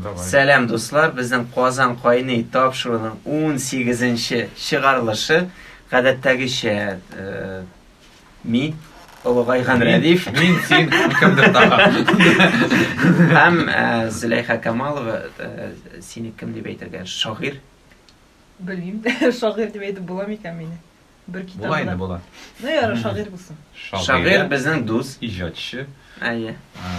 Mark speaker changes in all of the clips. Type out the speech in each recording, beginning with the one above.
Speaker 1: Сәлам дуслар, безнең Казан кайный тапшыруның унсигезенче чыгарылышы гадәттәгечә мин, олыгайган Рәдиф, мин, син һәм
Speaker 2: кемдер тагын
Speaker 1: һәм Зөләйха Камалова, сине кем дип әйтергә, шагыйрь? Белмим,
Speaker 3: шагыйрь дип әйтеп була микән мине? Бер китабы Була инде,
Speaker 2: да.
Speaker 3: була. Ну, ярар, шагыйрь булсын. Шагыйрь безнең
Speaker 1: дус. Иҗатчы.
Speaker 2: Әйе.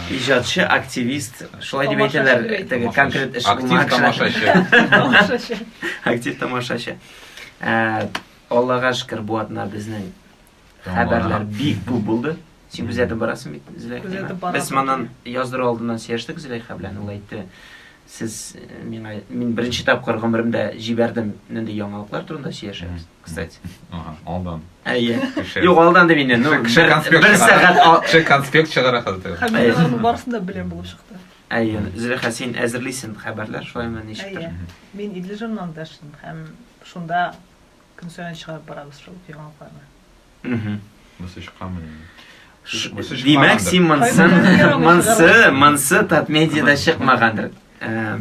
Speaker 1: Иҗатчы, активист. Шулай дип Тамашачы әйтәләр, дип әйтә. теге Тамашачы. конкрет эш Актив булмаган кешеләр. тамашачы. Тамашачы.
Speaker 3: Актив
Speaker 1: тамашачы. Ә, Аллага шөкер, бу атна безнең Тамара. хәбәрләр бик күп булды. Син күзәтеп барасың бит, Зөләйха. Без моннан
Speaker 3: яздыру
Speaker 1: алдыннан сөйләштек Зөләйха белән. Ул әйтте, сез э, миңа мин беренче тапкыр гомеремдә җибәрдем нинди яңалыклар турында сөйләшәбез. Кстати. Ага, алдан.
Speaker 2: Әйе. Юк,
Speaker 1: алдан дип инде. Ну, кеше конспект. Бер
Speaker 2: сәгать кеше
Speaker 1: конспект чыгара
Speaker 2: хәзер. Хәбәрләрнең барысын да
Speaker 3: беләм булып чыкты. Әйе. Зөләйха,
Speaker 1: син әзерлисең хәбәрләр, шулаймы ничектер? Мин Идле
Speaker 3: журналында эшлим һәм шунда көн саен чыгарып барабыз шул яңалыкларны.
Speaker 1: Димәк, син монсы, монсы, монсы Татмедиада чыкмагандыр. Э,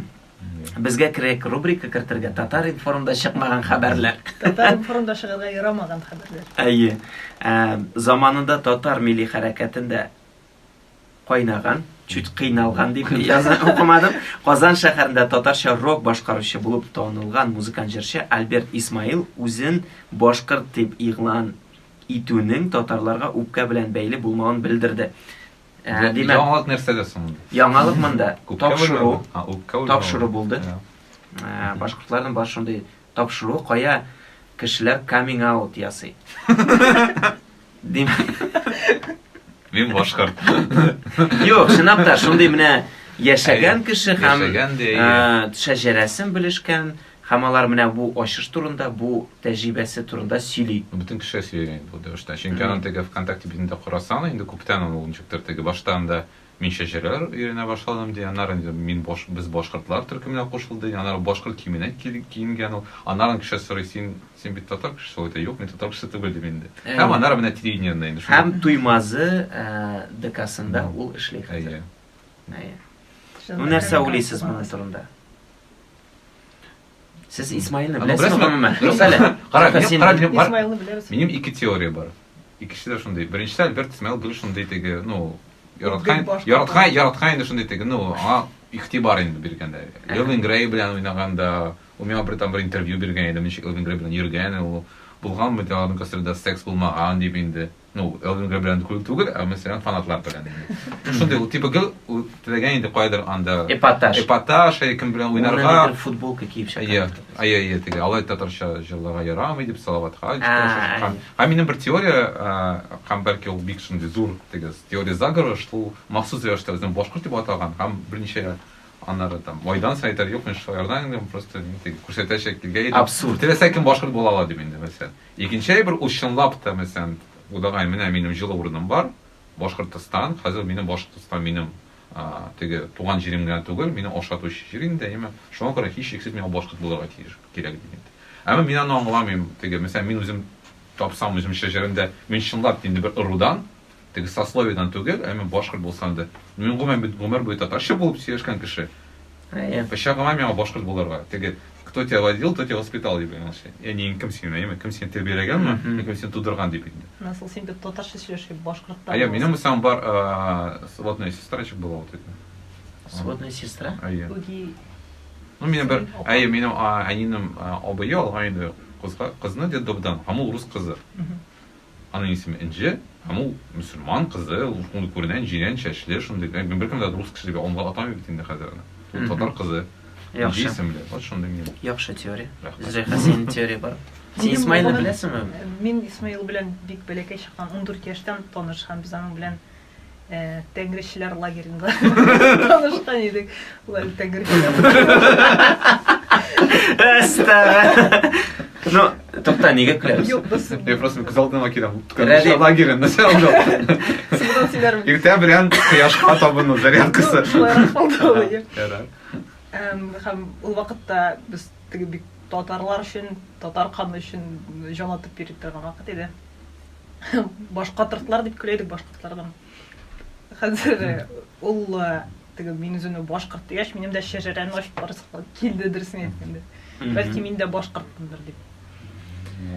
Speaker 1: безгә кирәк рубрика кертергә Татар информда чыкмаган хәбәрләр. Татар информда
Speaker 3: чыгарга ярамаган хәбәрләр. Әйе.
Speaker 1: Э, заманында татар милли хәрәкәтендә кайнаган, чуть кыйналган дип яза укымадым. Казан шәһәрендә татарча рок башкаручы булып танылган музыкант җырчы Альберт Исмаил үзен башкорт дип игълан итүнең татарларга үпкә белән бәйле булмавын белдерде. Ә, димәк, яңалык нәрсәдә соң?
Speaker 2: Яңалык монда
Speaker 1: тапшыру, тапшыру булды. Ә,
Speaker 2: башкортларның бар шундый
Speaker 1: Тапшыру кая кешеләр каминг аут ясый.
Speaker 2: Мин башкарт. Юк,
Speaker 1: чынлап та шундый менә яшәгән кеше һәм
Speaker 2: шәҗәрәсен
Speaker 1: белешкән һәм алар менә бу ачыш турында, бу тәҗрибәсе турында сөйли. Бөтен кеше сөйли
Speaker 2: бу дөрестә. Чөнки аның теге ВКонтакте битендә карасаң, инде күптән ул ничектер теге башта анда Мин чәчәргә өйрәнә башладым, ди. Аннары инде мин баш, без башкортлар төркеменә кушылды. Аннары башкорт киеменә киенгән ул. Аннары кеше сорый, син, син бит татар кешесе, ул әйтә, юк, мин татар кешесе түгел, дим инде. Һәм аннары менә телевидениедә инде шул. Һәм Туймазы
Speaker 1: ДКсында ул эшли хәзер. Әйе. Әйе. Ну нәрсә уйлыйсыз моның турында? Сез Исмаилны Аны беләсезме беләсезме? гомумән? Юк Беләсезме? әле. Кара, Юкса мин- син- кара, мин- бар-
Speaker 3: Исмаилны беләбез. Минем ике теория бар.
Speaker 2: Икесе дә шундый. Беренчесе Альберт Исмаил гел шундый теге, ну, яраткан, Бик башка. яраткан, яраткан инде шундый теге, ну, аңа игътибар инде биргәндә. Элвин Грей белән уйнаганда, ул миңа бер там бер интервью биргән иде, ничек Элвин Грей белән йөргән ул. Булганмы ди аларның гастрольдә секс булмаган дип инде. Ну, Элдингер белән күл түгел, ә мәсәлән фанатлар белән. Шундый ул типа гел теләгән инде кайдыр анда. Эпатаж. Эпатаж, ә кем белән уйнарга. Ул футболка киеп
Speaker 1: чыга. Ия, ия, ия,
Speaker 2: теге алай
Speaker 1: татарча
Speaker 2: җырларга ярамый дип салаватка җитә. Һәм минем бер теория, һәм бәлки ул бик шундый зур теге теория заговора, что махсус рәвештә үзен башкорт дип атаган һәм берничә аннары там майдан сайтар юк, мин шулардан инде просто күрсәтәчәк килгән идем. Абсурд. Теләсә кем башкорт
Speaker 1: була ала
Speaker 2: дип инде мәсәлән. Икенче әйбер, ул чынлап та, мәсәлән, Удагай, менә минем җылы урыным бар, Башкортостан, хәзер минем Башкортостан минем теге туган җирем генә түгел, мине ашатучы җир инде, әйеме? Шуңа күрә һичшиксез миңа башкорт булырга тиеш, кирәк ди инде. Әмма мин аны аңламыйм, теге, мәсәлән, мин үзем тапсам үзем шәҗәрәмдә, мин чынлап та инде бер ырудан, Теге сословиедән түгел, ә мин башкорт булсам да. Мин гомумән бит гомер буе татарча булып сөйләшкән кеше. Әйе.
Speaker 1: Кычагыма миңа башкорт
Speaker 2: булырга. Теге кто тебя водил, кто тебя воспитал дип янәшә. Ә нин кем сине, әйеме? Кем сине тәрбияләгәнме? Кем сине тудырган дип инде. Насыл син бит татарча
Speaker 3: сөйләшеп башкорт та. Әйе, минем булсам бар
Speaker 2: сводная сестрачек была вот это. Сводная сестра?
Speaker 1: Әйе. Үги.
Speaker 3: Ну, минем
Speaker 2: бер, әйе, минем әнинем абые алган иде кызга, кызны дедовдан, һәм ул рус кызы. Аның исеме Энҗе һәм ул мөселман кызы, ул шундый күренә, җирән чәчле, шундый, ләкин беркем дә рус кеше дип аңлап атамый бит инде хәзер аны. Ул татар кызы, Энҗе исемле,
Speaker 1: вот шундый минем.
Speaker 2: Яхшы теория. Рәхмәт.
Speaker 1: Зөләйха, синең теория бар. Син Минем Исмаилны булган- беләсеңме? Мин Исмаил
Speaker 3: белән бик бәләкәй чактан, ундүрт яшьтән таныш һәм без аның белән Тәңречеләр лагеренда танышкан идек. Улар тәңречеләр.
Speaker 1: Ну, тукта, нигә көләбез? Юк, без. Я просто
Speaker 3: күз алдыма
Speaker 2: киләм. Рәди лагерен, нәрсә
Speaker 1: ул?
Speaker 2: Синең
Speaker 3: сөйләрем. Иртә белән
Speaker 2: кояшка табыну зарядкасы. Эм, һәм
Speaker 3: ул вакытта без теге бик татарлар өчен, татар каны өчен җан атып йөри торган вакыт иде. Башкатыртлар дип көлә идек башкортлардан. Хәзер э, ул э, теге мин үземне башкорт дигәч, минем дә шәҗәрәне ачып барасы килде дөресен әйткәндә. Бәлки мин дә башкортмындыр дип.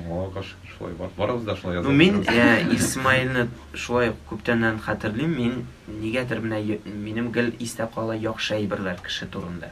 Speaker 3: Аллага
Speaker 2: каршы шулай бар. Барыбыз да шулай Ну, язылып мин торабыз. э,
Speaker 1: Исмаилны шулай ук күптәннән хәтерлим. Мин нигәдер менә й- минем гел истә кала яхшы әйберләр кеше турында.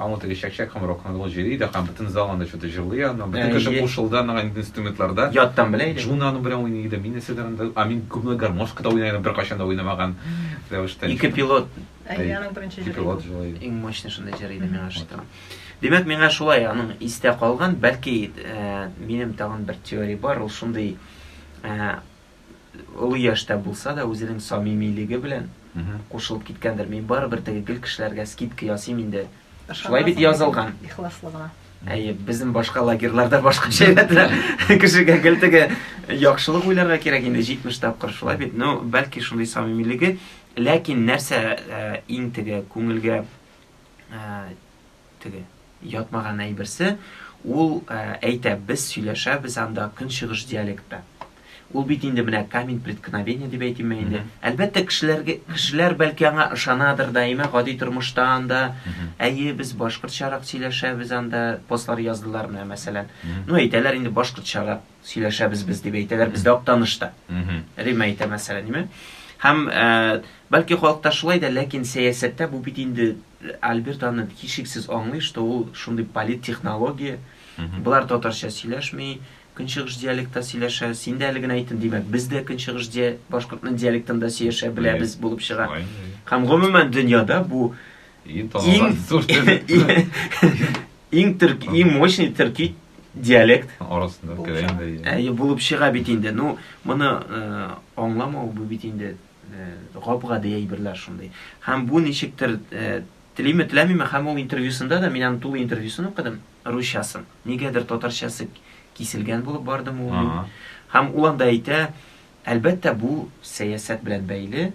Speaker 2: Ал ул теге чәкчәк һәм рок-н-ролл җыри да һәм бөтен зал анда чоты җырлый аны. Бөтен кеше кушылды аңа инде инструментларда. Яттан белә иде. Джуна
Speaker 1: аның белән уйный иде, мин
Speaker 2: нәрсәдер анда, ә мин күбрәк гармошка да уйный идем, беркайчан да уйнамаган рәвештә. Ике
Speaker 1: пилот. Әйе, аның беренче җыры.
Speaker 3: Ике пилот җырлый иде. Иң
Speaker 2: мощный шундый җыр
Speaker 1: иде миңа шуты. Димәк, миңа шулай аның истә калган, бәлки, минем тагын бер теория бар, ул шундый, олы яшьтә булса да, үзенең самимилеге белән кушылып киткәндер. Мин барыбер теге гел кешеләргә скидка ясыйм инде. Шулай бит язылган.
Speaker 3: Ихласлы гына. Әйе, безнең
Speaker 1: башка лагерьларда башка шәйләтә. Кешегә гел теге яхшылык уйларга кирәк инде 70 тапкыр шулай бит. Ну, бәлки шундый самимилеге, ләкин нәрсә иң теге күңелгә Теге, ятмаган әйберсе, ул әйтә, без сөйләшәбез анда көнчыгыш диалектта. Ул бит инде менә камень преткновения дип әйтимме инде. Әлбәттә, кешеләргә, кешеләр бәлки аңа ышанадыр, даимә гади тормышта анда, әйе, без башкортчарак сөйләшәбез анда, постлар яздылар менә мәсәлән. Ну, әйтәләр инде башкортчарак. Сөйләшәбез без, дип әйтәләр бездә Актанышта. Римма әйтә, мәсәлән, име? Һәм, бәлки, халыкта шулай да, ләкин сәясәттә бу бит инде Альберт аны һичшиксез аңлый, что ул шундый политтехнология. Болар татарча сөйләшми, көнчыгыш диалектта сөйләшә. Син дә әле генә әйттең, димәк, без дә көнчыгыш башкортның диалектында сөйләшә беләбез булып чыга. Һәм, гомумән, дөньяда бу Иң танылган зур Иң төрки, иң мощный төрки диалект. Арасында
Speaker 2: керә инде. Ә булып чыга бит
Speaker 1: инде. Ну, моны э, аңламау бу бит инде э, гап-гади әйберләр шундый. Һәм бу ничектер э, телиме теләмиме, һәм ул интервьюсында да мин аны тулы интервьюсын укыдым, русчасын. Нигәдер татарчасы киселгән булып барды ул. Һәм ул анда әйтә, әлбәттә, бу сәясәт белән бәйле,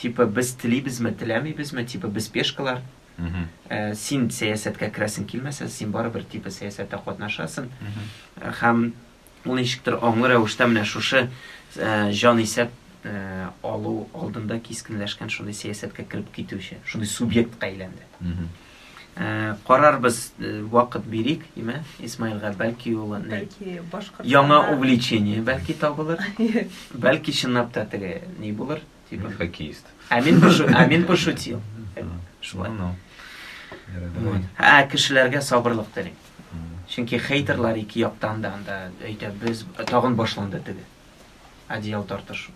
Speaker 1: Типа без телибезме, теләмибезме, типа без пешкалар. Э, син сәясәткә керәсең килмәсә, син барыбер типа сәясәттә катнашасың. Һәм ул ничектер аңлы рәвештә менә шушы э, җан исәп э, алу алдында кискенләшкән шундый сәясәткә кереп китүче, шундый субъектка әйләнде. Карарбыз, вакыт бирик, димә, Исмаилга, бәлки ул
Speaker 3: яңа увлечение
Speaker 1: бәлки табылыр. Бәлки чынлап та теге ни булыр, типа хоккеист. Ә мин
Speaker 2: пошутил. Ә мин
Speaker 1: пошутил. Шулай. Ә кешеләргә сабырлык телим. Чөнки хейтерлар ике яктан да анда әйтә, без тагын башланды теге. Одеял тартыш.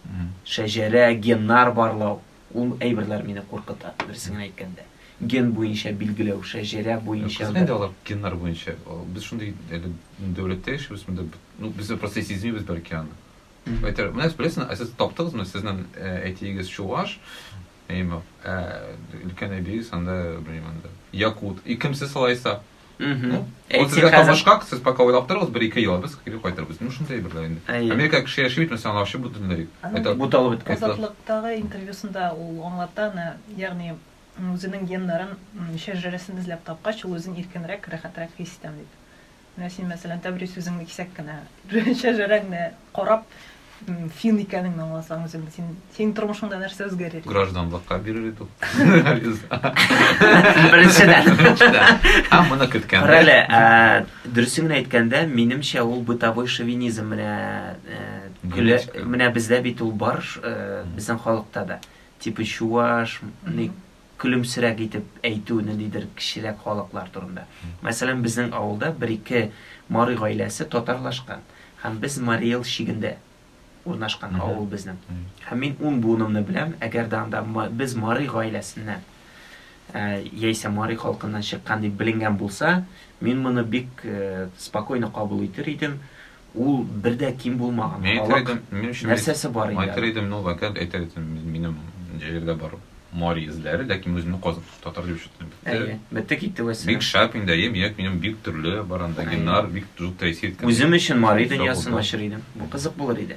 Speaker 1: Шәҗәрә, геннар барлау. Ул әйберләр мине куркыта, дөресен генә әйткәндә. Ген буенча билгеләү, шәҗәрә буенча бер. Кайсы инде алар геннар
Speaker 2: буенча? Без шундый әле дәүләттә яшибез, монда ну без просто сизмибез бәлки аны. Әйтер, менә сез беләсез, ә сез таптыгызмы? Сезнең әтиегез чуваш, әйме, ә өлкән әбиегез анда, белмим анда, якут. И кем сез алайса? Ул сезгә табышкак, сез пока уйлап торыгыз, бер ике ел, без кире кайтырбыз. Ну, шунда әйберләр инде. Америка кеше яши бит, мәсәлән, аларчы бөтенләй. Это буталып беткән.
Speaker 1: Азатлыктагы интервьюсында
Speaker 3: ул аңлата, ягъни үзенең геннарын, шәҗәрәсен эзләп тапкач, ул үзен иркенрәк, рәхәтрәк хис итәм дип. Менә син, мәсәлән, Тәбрис үзеңне кисәк кенә, шәҗәрәңне карап, Фин икәнеңне аңласаң үзең, син, синең тормышыңда нәрсә үзгәрер? Гражданлыкка бирер
Speaker 2: идек.
Speaker 1: Беренчедән. Һәм моны
Speaker 2: көткән. Карале,
Speaker 1: дөресен генә әйткәндә, минемчә ул бытовой шовинизм менә көлә, менә бездә бит ул бар, безнең халыкта да. Типа чуваш, көлемсерәк итеп әйтү ниндидер кечерәк халыклар турында. Мәсәлән, безнең авылда бер-ике Марый гаиләсе татарлашкан. Һәм без Марий Эл чигендә урнашкан авыл безнең. Һәм мин ун буынымны беләм, әгәр дә анда без Марый гаиләсеннән яисә Марый халкыннан чыккан дип беленгән булса, мин моны бик спокойно кабул итер идем. Ул бер дә ким булмаган Мин әйтер халык идем, минем өчен нәрсәсе бар инде Әйтер әле? идем, ну, вәкаләт әйтер
Speaker 2: идем, мин- минем җирдә бар мари эзләре, ләкин үземне казып, татар дип ишеттем, бетте. Әйе, бетте китте, Бик вәссәлам.
Speaker 1: шәп инде, әйе,
Speaker 2: минем бик төрле бар анда Әйе. геннар, бик зур тәэсир иткән. Үзем өчен мари Сау дөньясын
Speaker 1: булдым. ачыр идем. Бу кызык булыр иде.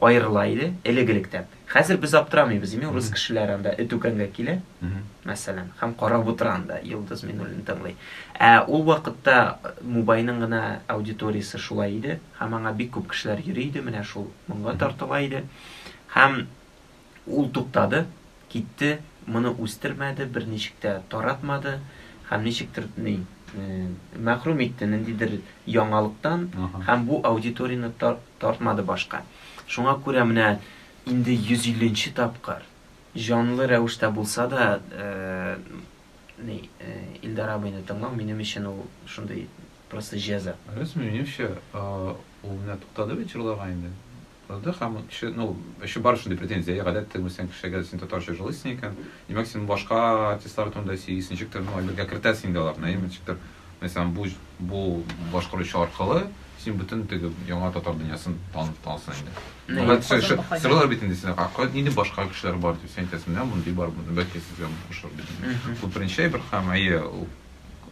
Speaker 1: аерыла иде, элек-электә. Хәзер без аптырамыйбыз, ими урыс кешеләре анда эт үкәнгә килә, мәсәлән, һәм карап утыра анда, Йолдыз Минуллин тыңлый. Ә ул вакытта Мубайның гына аудиториясе шулай иде, һәм аңа бик күп кешеләр йөри иде, менә шул моңга тартыла иде. Һәм Ул туктады, китте, моны үстермәде, берничек тә таратмады һәм ничектер ни, мәхрүм итте ниндидер яңалыктан һәм бу аудиторияне тартмады башка. Шуңа күрә менә инде 150 нче тапкыр, җанлы рәвештә булса да, ни, Илдар абыйны тыңлау, минем өчен ул шундый просто җәза. Беләсеңме, минемчә,
Speaker 2: ул менә туктады бит җырларга инде. Ды һәм кеше, ну, эше бар шундый претензия, гадәт тегмәсәң кешегә, син татарча җылыйсың икән, димәк, син башка артистлар турында сөйлисең, ничектер, ну, әйбергә кертәсең инде аларны, әйеме, ничектер, мәсәлән, бу, бу башкаручы аркылы син бөтен теге яңа татар дөньясын танып тасың инде. Ну, гадәт сөйләшә, сорыйлар бит инде сине, а нинди башка кешеләр бар, дип, син әйтәсең, менә мондый бар, бәлки сезгә ошар, дип. Бу беренче әйбер һәм, әйе,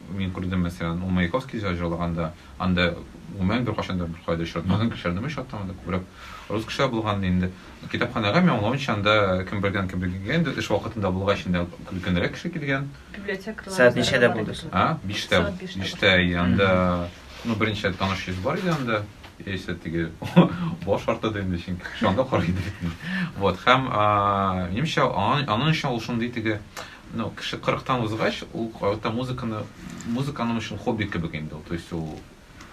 Speaker 2: Мин күрдем, мәсәлән, ул Маяковский җыр җырлаганда, анда гомумән беркайчан да беркая да очратмаган кешеләрне мин очраттым, анда күбрәк рус кешеләр булган иде инде. Китапханәгә мин аңлавымча анда кем бергән, кем бергә килгән инде, эш вакытында булгач инде өлкәнрәк кеше килгән. Библиотекарьлар Сәгать үзләре
Speaker 3: ничәдә бар булды иде.
Speaker 1: соң? А, биштә, Сәгать биштә
Speaker 2: биштә, и, анда, ну, берничә таныш йөз бар иде анда, яисә теге баш арты да инде, чөнки кеше анда карый иде бит инде. Вот, һәм, а, минемчә, аңа, аның өчен ул шундый теге, Ну, кеше кырыктан узгач, ул карата музыканы, музыка аның өчен хобби кебек инде ул, то есть ул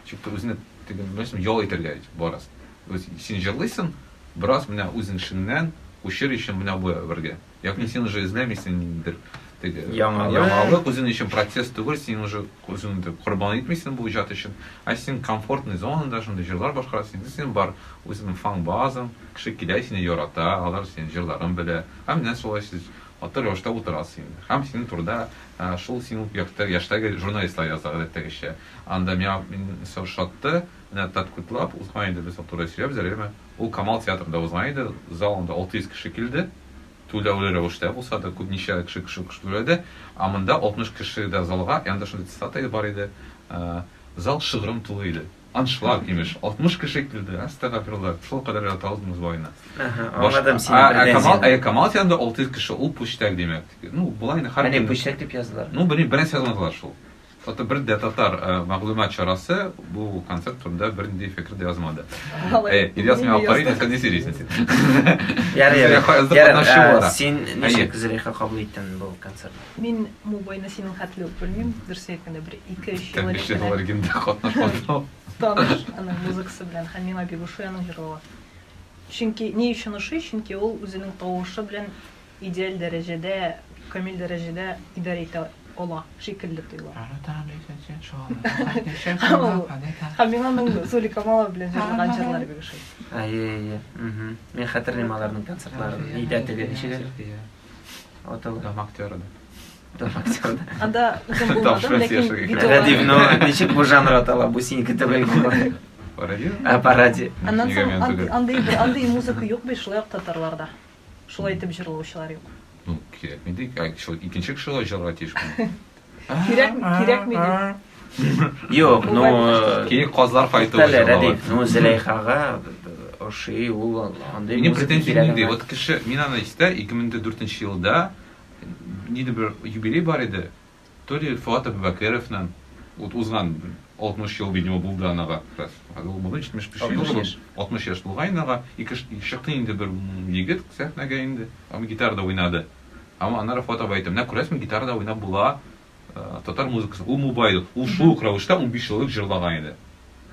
Speaker 2: чиктә үзенә теге, беләсең, ял итәргә барасың. То есть син җырлыйсың, бераз менә үзең эшеңнән, күчер өчен менә бу әйбергә. Ягъни син уже эзләмисең ниндидер теге яңалык, үзең өчен процесс түгел, син уже үзеңне корбан итмисең бу иҗат өчен, ә син комфортный зонада шундый җырлар башкарасың, инде синең бар үзеңнең фан-базаң, кеше килә, сине ярата, алар синең җырларың белә. Һәм менә шулай сез Матур рәвештә утыра син. Һәм синең турыда шул син ук якты яшьтәге журналистлар яза, гадәттәгечә. Анда миңа мине шатты, менә тәткутлап узган иде без турыда сөйләп, Зәләйма. Ул Камал театрында узган иде, зал анда 600 кеше килде, түләүле рәвештә булса да, күпничә кеше шул кеше түләде, ә монда 60 кеше дә залга, янында шундый цитата бар иде, Зал шыгрым тулы иде. Аншлаг, имеш, алтмыш кеше килде. Әстәгәфирулла, шул кадәр оялта алдыгыз байны. Әһә, аңладым сине
Speaker 1: Ә, ә Камал, ә Камал янында алты йөз
Speaker 2: кеше, ул пүчтәк димәк. Ну, болай инде һәр Әни пүчтәк дип яздылар. Ну,
Speaker 1: белмим, бернәрсә язмадылар
Speaker 2: шул. Хәтта бер дә татар э, мәгълүмат чарасы бу концерт турында бернинди фикер дә язмады. Э, Ильяс, миңа карыйсың, сен ни сөйлисең син? Ярый, ярый. Ярый,
Speaker 1: э, син ничек Зөләйха кабул иттең бу концертны? Мин мубыйны
Speaker 3: синең хәтле үк белмим, дөресен әйткәндә, бер ике-өч ел элек кенә. Әлбиштә, алар гимнда
Speaker 2: катнашмадым. Таныш аның
Speaker 3: музыкасы белән һәм миңа бик ошый аның җырлавы. Чөнки, ни өчен ошый? Чөнки ул үзенең тавышы белән идеаль дәрәҗәдә, камил дәрәҗәдә идарә итә ала шикелле тоела. Һәм миңа аның Зули Камалова белән җырлаган җырлары бик ошый. Әйе, әйе. Мин
Speaker 1: хәтерлим аларның концертларын. Нидә теге, ничек әле? Аталар. Тамак теорда.
Speaker 2: Тамак теорда.
Speaker 3: Анда үзем булмадым, ләкин видео. Радио, но
Speaker 1: ничек бу жанр атала, бу синеке түгел булмады. Пародия? А,
Speaker 3: пародия. Аннан соң андый
Speaker 1: андый
Speaker 3: музыка юк бит шулай ук татарларда. Шулай итеп җырлаучылар юк. Ну, кирәкми ди.
Speaker 2: Икенче кеше ла җырларга тиеш. Кирәк, кирәкми ди.
Speaker 3: Юк, ну...
Speaker 1: Э, Кирәк казлар кайту.
Speaker 2: Тәләрә ди. Ну,
Speaker 1: Зеләйхага ошый ул андый Минем претензия нинди? Вот
Speaker 2: кеше, мин
Speaker 1: аны
Speaker 2: истә 2004 елда ниде бер юбилей бар иде. То ли Фуат Абубакыровның вот узган 60 ел, видимо, булды анага как раз. Ул булды 75 ел, 60 яшь булган анага. Ике шыкты инде бер егет сәхнәгә инде. Ам гитарда уйнады. Һәм аннары фото бәете. Менә күрәсең, гитарада уйнап була татар музыкасы. Ул мубайлык. Ул шул ук рәвештә унбиш еллык җырлаган иде.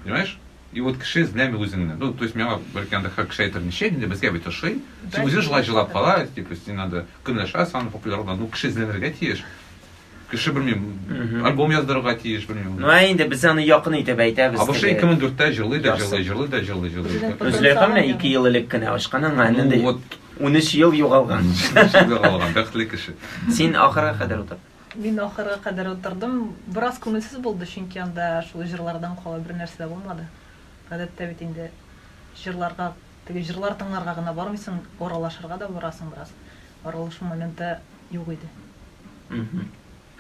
Speaker 2: Понимаешь? И вот кеше эзләми үзеңне. Ну, то есть миңа бәлки анда һәр кеше әйтер, ничә инде безгә бит ошый. Син үзең шулай җырлап кала, типа син анда көнләшәсең, популярлана. Ну, кеше эзләнергә тиеш. Кеше белмим. Альбом яздырырга тиеш белмим. Ну инде без аны
Speaker 1: якын итеп әйтәбез. Абышы 2004-тә җырлый да
Speaker 2: җырлый, җырлый да җырлый, җырлый. Зөләйха
Speaker 1: менә 2 ел элек кенә ачкан аңа инде. Ну вот
Speaker 2: 13
Speaker 1: ел
Speaker 2: югалган.
Speaker 1: Югалган,
Speaker 2: бәхетле кеше. Син ахырга кадәр
Speaker 1: утыр. Мин ахырга
Speaker 3: кадәр утырдым. Бераз күңелсез булды, чөнки анда шул җырлардан кала бер нәрсә дә булмады. Гадәттә бит инде җырларга, теге җырлар тыңларга гына бармыйсың, аралашырга да барасың бераз. Аралашу моменты юк иде.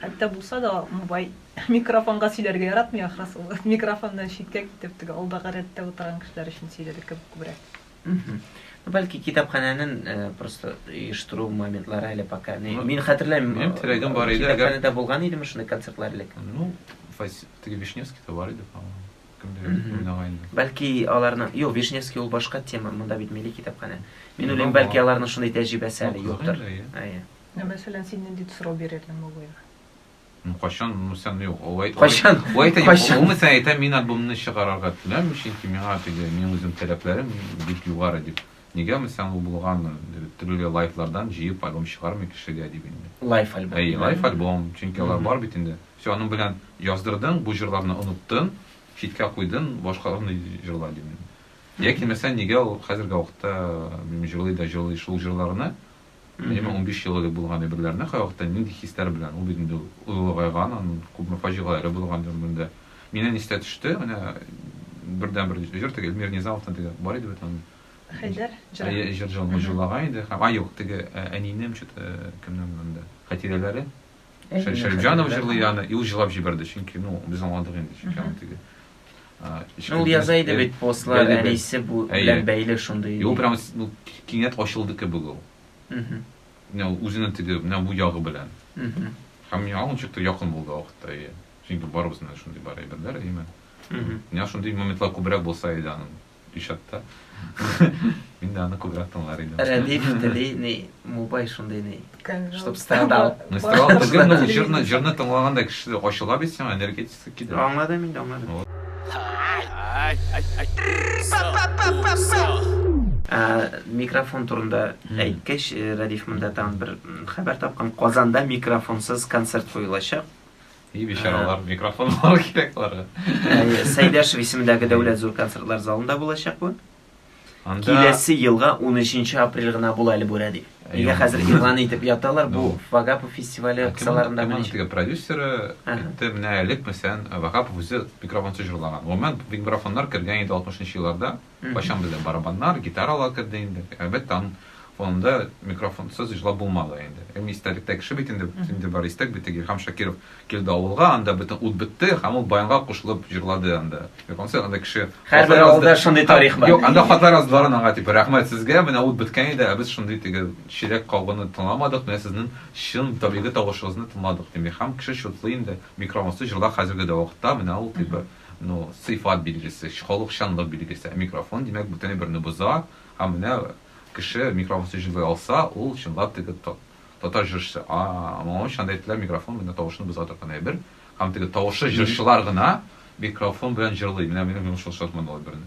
Speaker 3: Хәтта булса да, бай микрофонга сөйләргә яратмый, ахрысы. Микрофоннан читкә китеп, теге алдагы рәттә утырган кешеләр өчен сөйләде кебек күбрәк. Бәлки
Speaker 1: китапханәнең э, просто оештыру моментлары әле пока. Не, ну, мин хәтерләмим. Минем терәгем бар иде.
Speaker 2: Китапханәдә әгәр... булган идеме шундый
Speaker 1: концертлар элек? Ну,
Speaker 2: теге Вишневскийда бар иде, по-моему. Бәлки аларның...
Speaker 1: Юк, Вишневский ул башка тема, монда бит милли китапханә. Мин уйлыйм, бәлки аларның шундый тәҗрибәсе әле юктыр. Әйе. Ә мәсәлән,
Speaker 3: син нинди сорау бирердең Муллоева? Ну, кайчан,
Speaker 2: ну, сән, юк, алай, кайчан, алай, алай,
Speaker 1: кайчан, ну,
Speaker 2: сән, әйтә, мин альбомны чыгарарга теләмим, чөнки миңа теге, мин үзем таләпләрем бик югары дип. Нигәме соң ул булганы? Төрле лайфлардан җыеп альбом чыгармый кешегә дип инде. Лайф альбом. Әйе, лайф
Speaker 1: альбом, чөнки
Speaker 2: алар бар бит инде. Все, аның белән яздырдың, бу җырларны оныттың, читкә куйдың, башкаларны җырла дим инде. Яки мәсәлән, нигә ул хәзерге вакытта җырлый да җырлый шул җырларны, Әйеме, унбиш ел элек булган әйберләрне кайвакытта нинди хисләр белән, ул бит инде олыгайган, аның күпме фаҗигаләре булган гомерендә. Миннән истә төште, менә бердәнбер җыр, теге Эльмир Низамовтан теге бар иде бит аның. Хәйдәр
Speaker 3: җыры. Әйе, җыр
Speaker 2: җырлаган иде һәм, а, юк, теге Әнинем, чё-то кемнән монда, Хәтирәләре. Шә- Шәрип җырлый аны, и ул җырлап җибәрде, чөнки, ну, без аңладык инде, чөнки Мгм. аны теге. а, эчке
Speaker 1: Ну, ул яза иде бит, постлар Әйе, бит. әнисе бу Әйе. белән бәйле шундый. И ул прям, с- ну, ки-
Speaker 2: кинәт ачылды кебек ул. Мгм. Менә ул үзенең теге, менә бу ягы белән. Мгм. Һәм миңа ул ничектер якын булды вакытта, әйе. Чөнки барыбызның да шундый бар әйберләр, әйеме? Мгм. Менә шундый моментлар күбрәк булса иде аның. Учетта. Мин дә аны күбрәк тыңлар идем. Рәдиф тели ни,
Speaker 1: мубай шундый ни. Чтоб страдал. Ну, страдал түгел,
Speaker 2: ну, җырны, җырны тыңлаганда кеше ачыла бит сиңа, энергетикасы китә. Аңладым инде,
Speaker 1: аңладым. Микрофон турында әйткәч, э, Рәдиф монда тагын бер хәбәр тапкан. Казанда микрофонсыз концерт куелачак. И бичаралар,
Speaker 2: э, микрофон алу кирәк аларга. Э, Сәйдәшев
Speaker 1: исемендәге дәүләт зур концертлар залында булачак бу. Анда киләсе елга 13 апрель гына була әле бу рәди. Нигә хәзер игълан итеп яталар бу ну, Вагапов фестивале кысаларында менә. Кемнең продюсеры
Speaker 2: әйтте, менә элек мәсәлән Вагапов үзе микрофонсыз җырлаган. Гомумән бик микрофоннар кергән иде 60 нчы елларда. Кайчан бездә барабаннар, гитаралар керде инде? Әлбәттә, аның фонында микрофонсыз җырлап булмады инде. Һәм истәлектә кеше бит инде, инде бар истәк бит, Илһам Шакиров килде авылга, анда бөтен ут бетте, һәм ул баянга кушылып җырлады анда. Микрофонсыз анда кеше Һәрбер авылда шундый
Speaker 1: тарих бар. Юк, анда хатлар яздылар
Speaker 2: аңа дип, рәхмәт сезгә, менә ут беткән иде, ә без шундый теге чиләк кагуны тыңламадык, менә сезнең чын табигый тавышыгызны тыңладык, дип. Илһам кеше чутлый инде, микрофонсыз җырлар хәзерге дә вакытта, менә ул дип. Ну, сыйфат билгесе, халыкчанлык билгесе. Ә микрофон, димәк, бөтен әйберне боза. Һәм менә кеше микрофонсыз җырлый алса, ул чынлап теге татар җырчысы. А-а-а, моңа өчен анда әйттеләр, микрофон менә тавышны боза торган әйбер. Һәм теге тавышлы җырчылар гына микрофон белән җырлый. Менә минем йомышлы шартлы ул әйберне.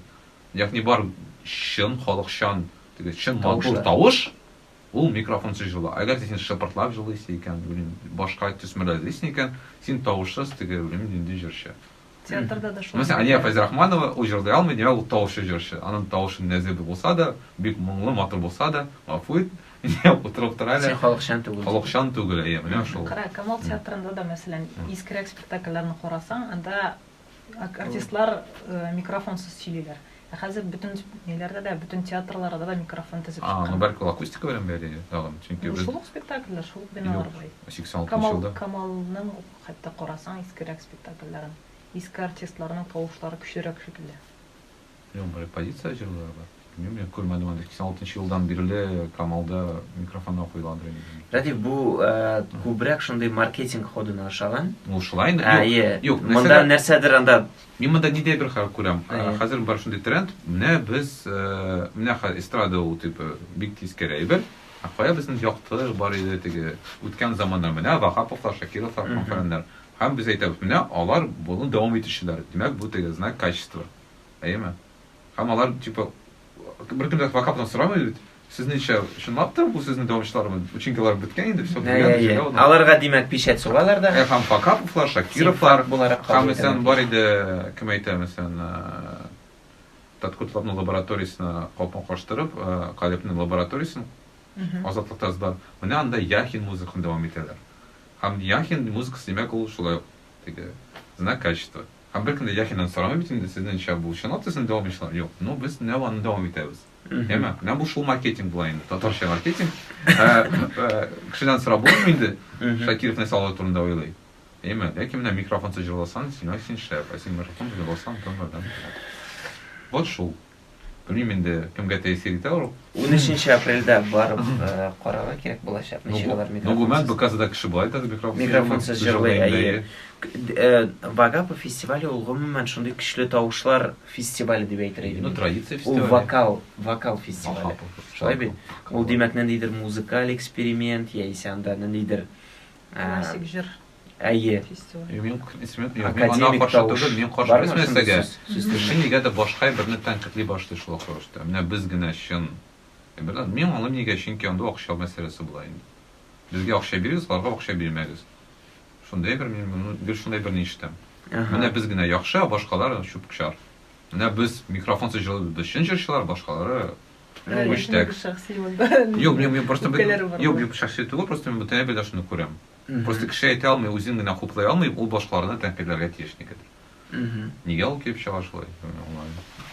Speaker 2: Ягъни бар чын халыкчан, теге чын матур тавыш, Ул микрофонсыз җыла. Әгәр дә син шыпыртлап җылыйсы икән, белмим, башка төсмерләр эзлисең икән, син тавышсыз теге, белмим, нинди җырчы. Театрда да
Speaker 3: шулай. Мәсәлән, Алия Фәйзрахманова,
Speaker 2: ул җырлый алмый, димәк, ул тавышсыз җырчы. Аның тавышы нәзер дә булса да, бик моңлы, матур булса да, гафу ит, утырып тор әле. Син халыкчан түгел. Халыкчан
Speaker 1: түгел, әйе,
Speaker 2: менә шул. Кара, Камал театрында
Speaker 3: да, мәсәлән, искерәк спектакльләрне карасаң, анда Артистлар микрофонсыз сөйлиләр. Ә хәзер бөтен ниләрдә дә, бөтен театрларда да микрофон тезеп чыккан. А, ну бәлки ул акустика
Speaker 2: белән
Speaker 3: бәйле
Speaker 2: тагын, чөнки без... Ну шул ук спектакльләр, шул ук
Speaker 3: биналар буе. Юк, 86 нчы елда.
Speaker 2: Камалның ук
Speaker 3: хәтта карасаң искерәк спектакльләрен, иске артистларның тавышлары көчлерәк шикелле. Минем бер
Speaker 2: позиция җырлары бар. Мин мин күрмәдем аны 86 нчы елдан бирле Камалда микрофонга куйладыр инде. Рәдиф, бу
Speaker 1: күбрәк шундый маркетинг ходына ошаган. Ну, шулай инде.
Speaker 2: Юк, юк. Монда нәрсәдер
Speaker 1: анда. Мин монда нидә бер
Speaker 2: хәл күрәм. Хәзер бар шундый тренд. Менә без, менә эстрада ул типа бик тиз керә әйбер. Ә кая безнең якты бар иде теге үткән заманнар. Менә Ваһаповлар, Шакировлар, Фәннәр. Һәм без әйтәбез, менә алар моны дәвам итүчеләр. Димәк, бу теге знак качества. Әйеме? Һәм алар, типа, беркем дә факап белән сорамый бит. Сезнеңчә, чынлап та бу сезнең дәвамчылармы? Учинкалар беткән инде, все, Әйе, әйе. җәяү гына. Аларга,
Speaker 1: димәк, пичәт сугалар да. Ә һәм Факаповлар,
Speaker 2: Шакировлар, Син буларак һәм кабул исән
Speaker 1: итәләр. бар иде,
Speaker 2: кем әйтә, исән Таткутларның лабораториясенә капма каштырып, э, Калепның лабораториясен Мгм. азатлыкта язда. Менә анда Яхин музыканы дәвам итәләр. Һәм Яхин музыкасы, димәк, ул шулай ук теге знак качества. Һәм беркем дә Яхидан сорамый бит инде, сезнеңчә бу чынлап та сезне дәвам итүчеләр? Юк, ну без менә аны дәвам итәбез. Әйме? Менә бу шул маркетинг була инде, татарча маркетинг. Кешедән сорап булмый инде, Шакиров нәрсә алар турында уйлый. Әйме? Ләкин менә микрофонсыз җырласаң, син, ай син шәп, ә син микрофонсыз җырласаң, тыңлардан. Вот шул. Белмим инде, кемгә тәэсир итә ул. Унөченче апрельдә
Speaker 1: барып карарга кирәк булачак, ничек алар микрофонсыз. Ну, гомумән, БКзада
Speaker 2: кеше болай да микрофонсыз җырлый. Микрофонсыз җырлый,
Speaker 1: әйе. Вагапов фестивале ул гомумән шундый көчле тавышлар фестивале дип әйтер идем. Ну, традиция фестивале. Ул
Speaker 2: вокал, вокал
Speaker 1: фестивале. Шулай бит? Ул, димәк, ниндидер музыкаль эксперимент яисә анда ниндидер классик
Speaker 3: җыр. Әйе.
Speaker 1: Мин академик тавыш. Мин каршы без
Speaker 2: нәрсәгә? Кеше нигәдер башка берне тәнкытли башлый шул вакыт рәвештә. Менә без генә чын. Беләм, мин аңлыйм нигә, чөнки анда акча мәсьәләсе була инде. Безгә акча бирегез, аларга акча бирмәгез. Шундый бер мин моны гел шундый берни ишетәм. Менә без генә яхшы, а башкалар чүп-чар. Менә без микрофонсыз җырлыйбыз, без чын җырчылар, башкалары Юк, мин просто бит, юк, юк, шәхси түгел, просто мин бүтән бит шуны күрәм. Просто кеше әйтә алмый, үзен генә хуплый алмый, ул башкаларны тәнкыйтьләргә тиеш никадәр. Нигә ул килеп чыга шулай?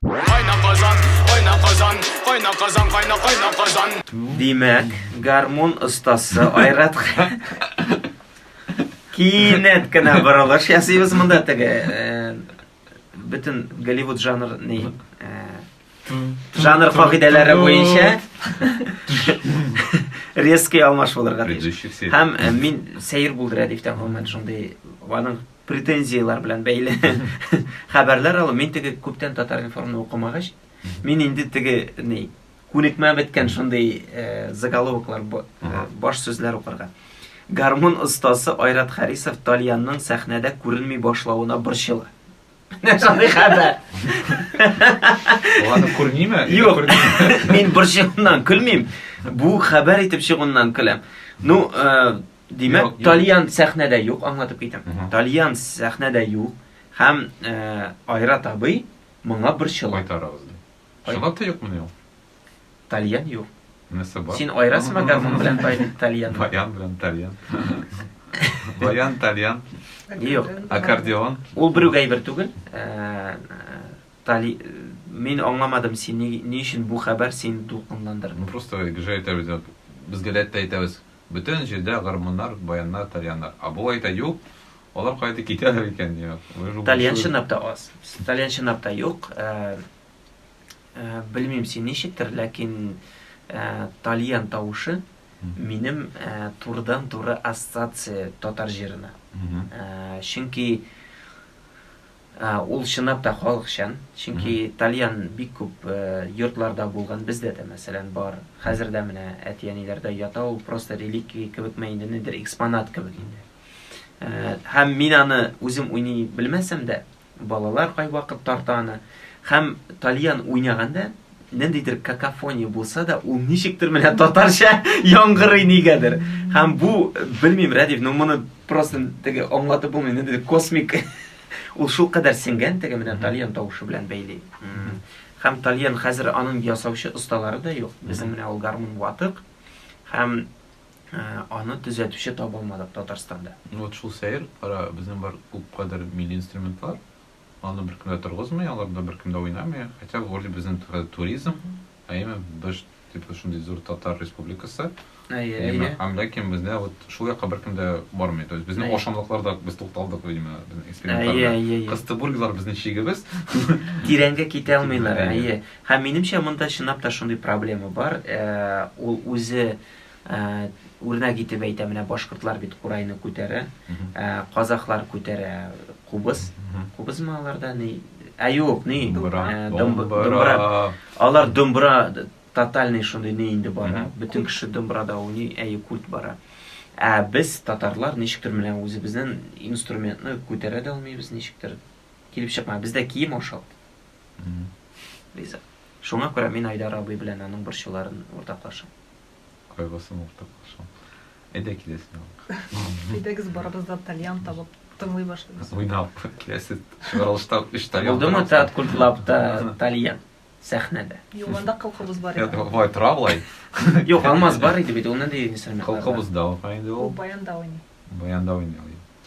Speaker 2: Кайна Казан, кайна Казан,
Speaker 4: кайна Казан, кайна кайна Казан. Димәк,
Speaker 1: гармун остасы Айрат Кинәт кенә борылыш ясыйбыз монда теге бөтен Голливуд жанр ни Жанр кагыйдәләре буенча резкий алмаш булырга тиеш. Һәм э, мин сәер булды рәдифтә гомумән шундый аның претензияләр белән бәйле хәбәрләр алу. Мин теге күптән татар информны укымагач, мин инде теге ни күнекмә беткән шундый э, заголовоклар э, баш сүзләр укырга. Гармун остасы Айрат Харисов Тальянның сәхнәдә күренми башлавына борчыла. Шундый хәбәр.
Speaker 2: Аны күрмиме? Юк.
Speaker 1: Мин борчуымнан көлмим. Бу хәбәр итеп чыгуыннан көләм. Ну, э, димәк, Талиян сәхнәдә юк, аңлатып китәм. Талиян сәхнәдә юк һәм э, Айрат абый моңа борчыла. Кайтарабыз.
Speaker 2: Шулай да юкмы ул? Тальян
Speaker 1: юк. Нәрсә бар? Син
Speaker 2: айрасыңмы
Speaker 1: гармун
Speaker 2: белән
Speaker 1: тальян? Баян белән тальян.
Speaker 2: Баян, тальян. Юк.
Speaker 1: Аккордеон.
Speaker 2: Ул бер үк әйбер
Speaker 1: түгел. Э, тали мин аңламадым син ни, ни өчен бу хәбәр син дулкынландырды. Ну просто гыжа
Speaker 2: әйтәбез. Без гәләттә әйтәбез. Бөтен җирдә гармуннар, баяннар, тальяннар. А бу әйтә юк. Алар кайда китәләр икән, я. Тальян чынлап та
Speaker 1: аз. Тальян чынлап та юк. Э, Белмим син ничектер, ләкин тальян тавышы минем турыдан туры ассоциация татар җырына. Чөнки ул чынлап та халыкчан, чөнки тальян бик күп йортларда булган, бездә дә мәсәлән бар. Хәзер дә менә әти-әниләрдә ята ул, просто реликвия кебекме инде, нидер экспонат кебек инде. Һәм мин аны үзем уйный белмәсәм дә, Балалар кайвакыт тарта аны. Һәм тальян уйнаганда, ниндидер какофония булса да, ул ничектер менә татарча яңгырый нигәдер. Һәм бу, белмим, Рәдиф, ну моны просто теге аңлатып булмый, ниндидер космик ул шул кадәр сеңгән теге менә тальян тавышы белән бәйли. Һәм тальян хәзер аның ясаучы осталары да юк. Безнең менә ул гармун ватык һәм Аны төзәтүче табылмады Татарстанда.
Speaker 2: Вот шул
Speaker 1: сәер,
Speaker 2: кара, безнең бар
Speaker 1: күп
Speaker 2: кадәр милли инструментлар, аны беркем дә торгызмый, аларда беркем дә уйнамый, хотя вроде безнең хәзер туризм, әйеме, быж дип шундый зур татар республикасы, Әйе, әйе.
Speaker 1: Һәм ләкин бездә
Speaker 2: вот шул якка беркем дә бармый. То есть безнең ашамлыкларда без тукталдык, видимо, безнең экспериментларда. Кыстыбургилар безнең чигебез. Тирәнгә
Speaker 1: китә алмыйлар, әйе. Һәм минемчә монда чынлап та шундый проблема бар, ул үзе Үрнәк итеп әйтәм, менә башкортлар бит курайны күтәрә, казахлар күтәрә кубыз. Кубызмы аларда? Ни? Ә юк, ни? Думбра. Алар думбра тотальный шундый ни инде бара. Бөтен кеше думбрада уйный, әйе, культ бара. Ә без татарлар ничектер менә үзебезнең инструментны күтәрә дә алмыйбыз ничектер. Килеп чыкма. Бездә кием ашалт. Риза. Шуңа күрә мин Айдар абый белән аның борчуларын уртаклашам. Кайгысын
Speaker 2: уртаклашам. Әйдә киләсен алыйк. Әйдәгез
Speaker 3: барыбыз да тальян табып тыңлый башлыйбыз. Уйнап киләсе
Speaker 2: чыгарылышта өч тальян. Булдымы Театр культуралабта
Speaker 1: тальян сәхнәдә? Юк, анда кылкыбыз
Speaker 3: бар иде. Болай тора болай.
Speaker 2: Юк, Алмаз
Speaker 1: бар иде бит, ул нинди инструмент? Кылкыбыз да бар иде
Speaker 3: ул. Баянда уйный. Баянда
Speaker 2: уйный.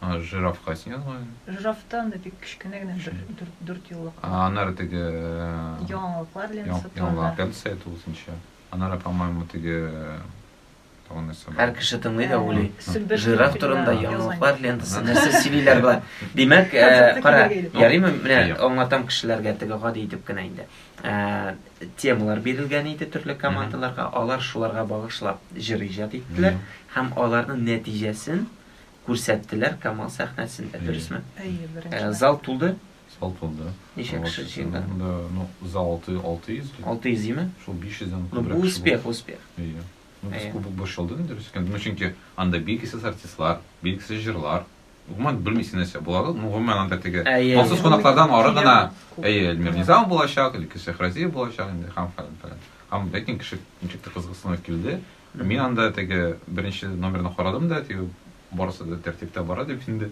Speaker 3: А,
Speaker 2: жирафка син язган. Жирафта анда бик
Speaker 3: кечкенә генә бер дүрт дүрт юллык. А, аннары теге э,
Speaker 2: яңалыклар
Speaker 3: лентасы турында. Яңалык лентасы әйтү
Speaker 2: үзенчә. Аннары, по-моему, теге э, тагын
Speaker 1: нәрсә бар. Һәр кеше тыңлый да уйлый. Э, жираф турында яңалыклар лентасы нәрсә сөйлиләр болар. Димәк, кара, ярыймы? Менә аңлатам кешеләргә теге гади итеп кенә инде. темалар бирелгән иде төрле командаларга, алар шуларга багышлап җыр иҗат иттеләр һәм аларның нәтиҗәсен күрсәттеләр Камал сәхнәсендә, дөресме? Әйе, беренче. Э, зал
Speaker 3: тулды?
Speaker 1: Зал тулды.
Speaker 2: Ничә кеше җыелды?
Speaker 1: Да, ну, за 6 600
Speaker 2: ди. 600 диме? Шул
Speaker 1: 500-дән күбрәк. Ну, бу
Speaker 2: успех,
Speaker 1: успех.
Speaker 2: Әйе. Ну, без кубок борчылды инде, дөрес икән. Ну, чөнки анда билгесез артистлар, билгесез җырлар. Гомумән, белмисең нәрсә буларын, ну, гомумән анда теге махсус кунаклардан ары гына, әйе, Эльмир Низам булачак, Леки Шехразиев булачак инде, һәм фәлән фәлән. Һәм ләкин кеше ничек тә кызыксынып килде. Мин анда теге беренче номерны карадым да, теге барысы да тәртиптә бара дип инде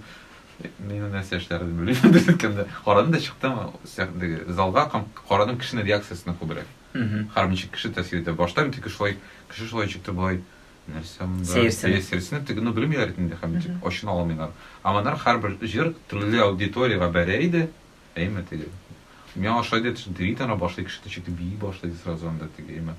Speaker 2: мин нәрсә эшләрен белмим дигәндә, карадым да чыктым, теге залга карадым кешенең реакциясенә күбрәк. Һәм ничек кеше тәэсир итә. Башта мин теге шулай, кеше шулай чыкты, болай Нәрсә монда? Сәерсенеп. Сәерсенеп тегене белмиләр бит инде, хәм дип ачына алмыйлар. Ә моннан һәрбер җыр төрле аудиториягә бәрә иде, әйме, теге. Миңа ошый дип төри дә ана башлый кеше төшеп бии башлый ди сразу анда теге, әйме.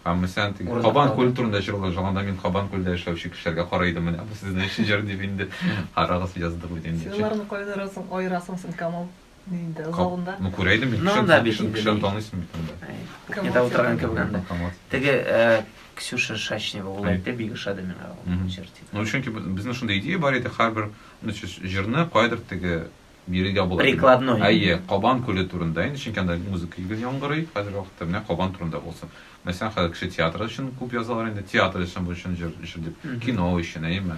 Speaker 2: Һәм мәсәлән теге Кабан күл турында җырлый, җырланда мин Кабан күлдә яшәүче кешеләргә карый идем, менә бу сезнең өчен җыр дип инде. Карагыз, яздым бит инде. Син аларны кайнарасың,
Speaker 3: аерасың син, Камал. Инде залында. Ну, күрә идем мин. Ну, да,
Speaker 2: бит инде. Кешеләрне
Speaker 1: таныйсың бит инде. Кухняда
Speaker 2: утырган кебек анда.
Speaker 1: Теге э, Ксюша Шачнева ул әйтте, бик ошады миңа ул җыр дип. Ну, чөнки безнең
Speaker 2: шундый идея бар иде, һәрбер ну, җырны кайдыр теге бирергә була. Прикладной. Әйе,
Speaker 1: Кабан күле
Speaker 2: турында инде, чөнки анда музыка гел яңгырый, хәзер вакытта менә Кабан турында булсын. Мәсәлән, хәзер кеше театр өчен күп язалар инде, театр өчен бу өчен җыр, җыр дип, кино өчен, әйеме?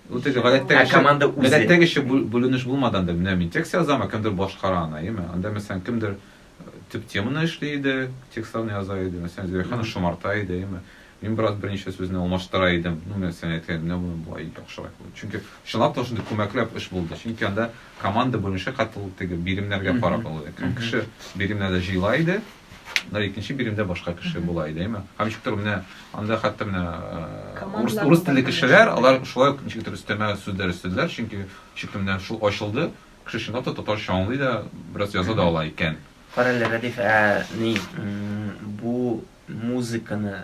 Speaker 2: Ну, теге
Speaker 3: гадәттәгечә,
Speaker 2: ә команда үзе? Гадәттәгечә
Speaker 1: бүленеш
Speaker 2: булмады анда. Менә мин текст язам, ә кемдер башкара аны, әйеме? Анда, мәсәлән, кемдер төп теманы эшли иде, текстларны яза иде, мәсәлән, Зөләйханы шомарта иде, әйеме? Мин бераз берничә сүзне алмаштыра идем. Ну, мәсәлән, әйткән, менә моны болай яхшырак булды. Чөнки чынлап та шундый күмәкләп эш булды. Чөнки анда команда бүленеше катыл теге биремнәргә карап алды. Кем кеше биремнәрне җыйла иде, Менә икенче биремдә башка кеше була иде, әйме? Һәм ничек тә менә анда хәтта менә урыс, урыс телле кешеләр, алар шулай ук ничек тә өстәмә сүзләр өстәделәр, чөнки ничек тә менә шул ачылды, кеше чынлап та татарча аңлый да, бераз яза да ала икән. Кара әле, Рәдиф, ә
Speaker 1: ни, бу музыканы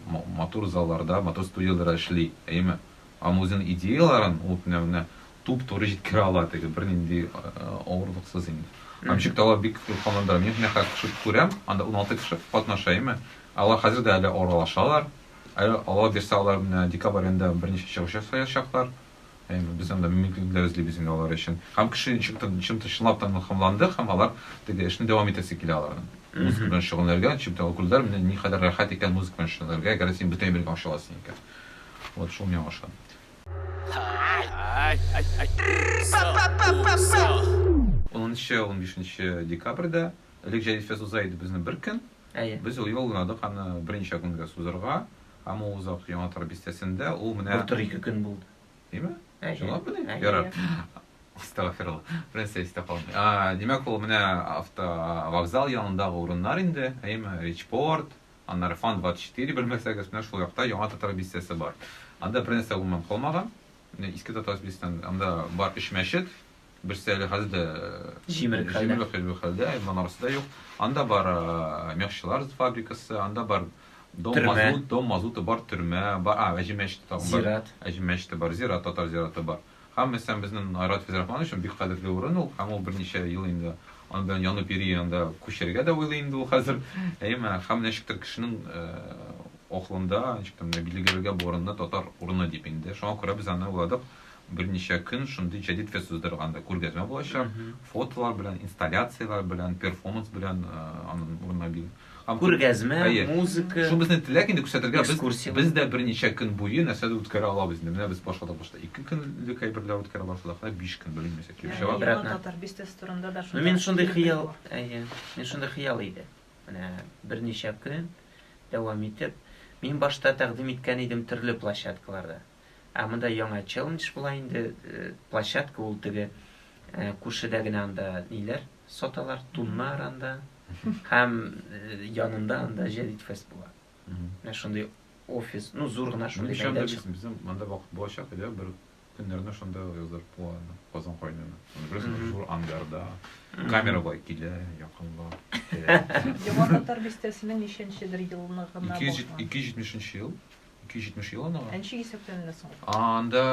Speaker 2: матур залларда, матур студияләр эшли, әйеме? Һәм үзенең идеяләрен ул менә менә туп-туры җиткерә ала теге, бернинди авырлыксыз инде. Һәм ничек тә алар бик рухландыра. Мин менә хәзер кеше күрәм, анда уналты кеше катнаша, әйеме? Алар хәзер дә әле аралашалар. Әле Алла бирсә, алар менә декабрь аенда берничә чыгыш ясаячаклар. Әйе, без анда мөмкинлекләр эзлибез инде алар өчен. Һәм кеше чынлап та илһамланды, һәм алар теге эшне дәвам итәсе килә аларның. Музыка белән шөгыльләнергә, чөнки ул күрделәр, менә никадәр рәхәт икән музыка белән шөгыльләнергә, әгәр дә син бөтен әйбергә ача аласың икән. Вот шул миңа ошады.
Speaker 4: Унынчы-унбишенче
Speaker 2: декабрьдә Элек Җәдит фест уза иде безне бер көн. Әйе. Без юлладык аны берничә көнгә сузырга, һәм ул озак Яңатар бистәсендә, ул менә... Былтыр ике көн булды.
Speaker 1: Димме? Әйе.
Speaker 2: Чынлап мени? Әйе. Ярар. Астагфирулла. Бернәрсә истә калмый. А, димәк, ул менә автовокзал янындагы урыннар инде, әйеме? Речпорт, аннары Фан 24, белмәсәгез, менә шул якта Яңа Татар бистәсе бар. Анда бернәрсә гомумән калмаган. Менә Иске Татар бистәсендә, анда бар өч мәчет, Берсе әле хәзер дә җимерек
Speaker 1: хәлдә,
Speaker 2: монарасы да юк. Анда бар мехчылар фабрикасы, анда бар дом мазут, дом мазуты бар төрмә, бар, а, әҗи мәчете тагын бар. Зират. Әҗи мәчете
Speaker 1: бар,
Speaker 2: зират, татар зираты бар. Һәм мәсәлән безнең Айрат Физрахманович өчен бик кадерле урын ул, һәм ул берничә ел инде аны белән янып йөри, анда күчәргә дә уйлый инде ул хәзер. Әйме, һәм ничектер кешенең акылында, ничектер билгеләргә бу урынны татар урыны дип инде. Шуңа күрә без аны уйладык. Берничә көн шундый җәдит фест уздырганда күргәзмә булачак, фотолар белән, инсталляцияләр белән, перформанс белән, анын урынына бил. Күргәзмә,
Speaker 1: музыка. Шул безнең теләк инде
Speaker 2: күрсәтергә, без, без дә берничә
Speaker 1: көн
Speaker 2: буе нәрсәдер үткәрә алабыз инде. Менә без башладык башта ике көнлек әйберләр үткәрә башладык, менә биш көн белмим нәрсә килеп чыга. Яңа татар бистәсе
Speaker 1: турында
Speaker 3: да шундый. Мин шундый хыял,
Speaker 1: әйе, мин шундый хыял иде. Менә берничә көн дәвам итеп, мин башта тәкъдим иткән идем төрле площадкаларда. Ә монда яңа челлендж була инде, площадка ул теге күршедә генә анда ниләр саталар, туннар анда һәм янында анда Җәдит фест була. Менә шундый офис, ну зур гына шундый мәйданчык. Безнең монда вакыт
Speaker 2: булачак иде, бер көннәрне шунда яздырып куйган Казан кайнана. Аны беләсең, зур ангарда. Камера бай килә, якынла. Яңа татар
Speaker 3: бистәсенең ничәнчедер елны гына булган? 270 нче
Speaker 2: ел. 270 ел анага. Нче исәптән
Speaker 3: әллә соң? Анда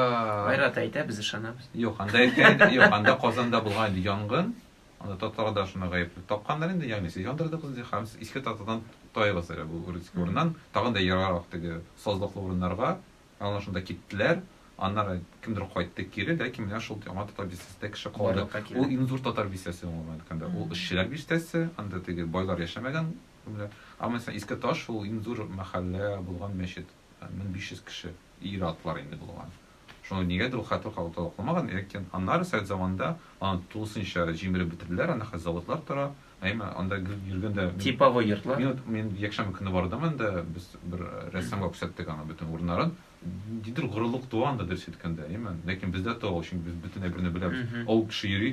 Speaker 2: Айрат әйтә, без
Speaker 1: ышанабыз. Юк, анда әйткән,
Speaker 2: юк, анда Казанда булган инде янгын. Анда татар да шуны гаепле тапканнар инде, ягъни сез яндырдыгыз ди, һәм сез иске татардан таегыз әле бу Урицкий урыннан, тагын да ераграк теге сазлыклы урыннарга, ана шунда киттеләр, аннары кемдер кайтты кире, ләкин менә шул яңа татар бистәсендә кеше калды. Ул иң зур татар бистәсе аңа әйткәндә. Ул эшчеләр бистәсе, анда теге байлар яшәмәгән Менә. Ә мәсәлән, Иске Таш, ул иң зур мәхәллә булган мәчет. 1500 кеше, ир-атлар инде булган. Шуны нигәдер ул хәтер калып та укылмаган, ләкин аннары совет заманында аны тулысынча җимереп бетерделәр, анда хәзер заводлар тора. Әмма анда йөргәндә мин. Типовой йортлар. Мин вот,
Speaker 1: мин якшәмбе көне
Speaker 2: бардым анда, без бер рәссамга күрсәттек аның бөтен урыннарын. Ниндидер горурлык туа анда, дөрес әйткәндә, әйеме? Ләкин бездә туа ул, чөнки без бөтен әйберне беләбез. Авыл кеше йөри,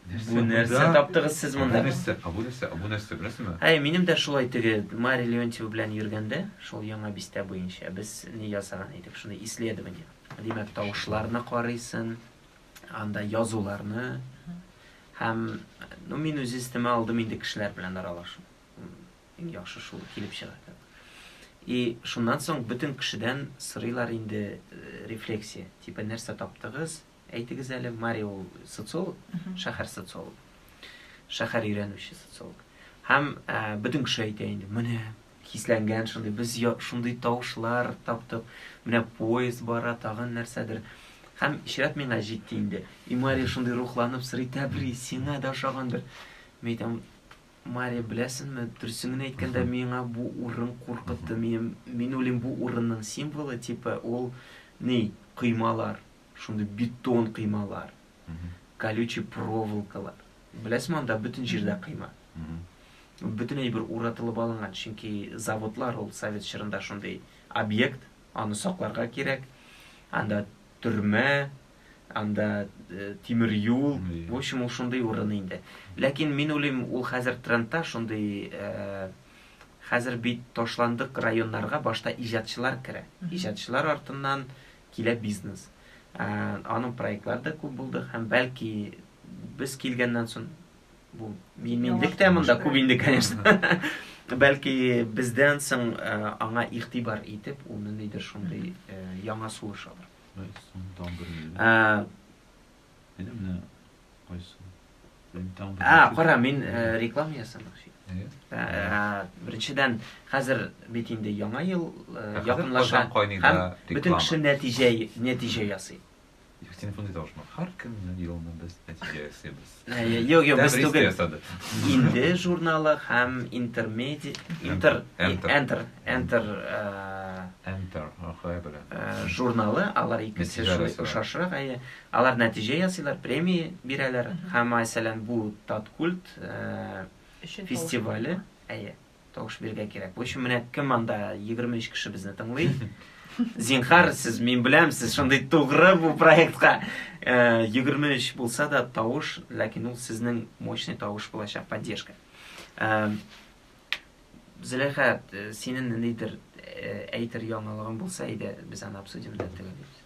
Speaker 2: Бу
Speaker 1: нәрсә таптыгыз сез монда? Бу нәрсә? А бу
Speaker 2: нәрсә? А бу нәрсә? Беләсезме? Әй, минем дә шулай теге
Speaker 1: Мария Леонтьева белән йөргәндә, шул яңа бистә буенча без ни ясаган идек, шуны исследование. Димәк, тавышларны карыйсын, анда язуларны һәм ну мин үз истемә алдым инде кешеләр белән аралашу. Иң яхшы шул килеп чыга. И шуннан соң бөтен кешедән сырыйлар инде э, рефлексия. Типа нәрсә таптыгыз? әйтегез әле, Мари ул социолог, шәһәр социологы, шәһәр өйрәнүче социолог. Һәм ә, бөтен кеше әйтә инде, менә хисләнгән шундый, без шундый тавышлар таптык, менә поезд бара, тагын нәрсәдер. Һәм чират миңа җитте инде. И Мари шундый рухланып сорый, тәбри, сиңа да ошагандыр. Мин әйтәм, Мари, беләсеңме, дөресен генә әйткәндә, миңа бу урын куркытты. Мин, мин уйлыйм, бу урынның символы, типа, ул ни, коймалар. Шундый бетон кыймалар, колючий проволокалар. Беләсеме, анда бөтен җирдә кыйма. Бөтен әйбер уратылып алынган, чөнки заводлар ул совет чорында шундый объект, аны сакларга кирәк. Анда төрмә, анда тимер юл, в общем, ул шундый урын инде. Ләкин мин уйлыйм, ул хәзер трендта шундый, хәзер бит ташландык районнарга башта иҗатчылар керә. Иҗатчылар артыннан килә бизнес. Аның проектлары да күп булды һәм бәлки без килгәннән соң бу миминлек тә монда күп инде, конечно. Бәлки бездән соң аңа игътибар итеп, ул ниндидер шундый яңа сулыш алыр. Без соң тагын бер миллион. Әйдә менә кайсы? А, кара, мин э, реклама ясамакчы. Әйе. Э, беренчедән, хәзер бит инде яңа ел э, якынлаша. Һәм бөтен кеше нәтиҗә нәтиҗә ясый. Их телефон дип
Speaker 2: тавышмак. Һәр көнне елны без нәтиҗә ясыйбыз. Юк, юк, без
Speaker 1: түгел. Инде журналы һәм интермеди, интер, enter, enter, enter, ахай белән. Журналы алар икесе шулай ошашрак, әйе. Алар нәтиҗә ясыйлар, премия бирәләр. Һәм, мәсәлән, бу Таткульт фестивале, әйе, тавыш бирергә кирәк. Бу өчен менә кем анда 23 кеше безне тыңлый. Зинхар, сез мин беләм, сез шундый тугры бу проектка. 23 булса да тавыш, ләкин ул сезнең мощный тавыш булачак, поддержка. Зөләйха, синең ниндидер әйтер яңалыгың булса иде, без аны обсудим да төгәллибез.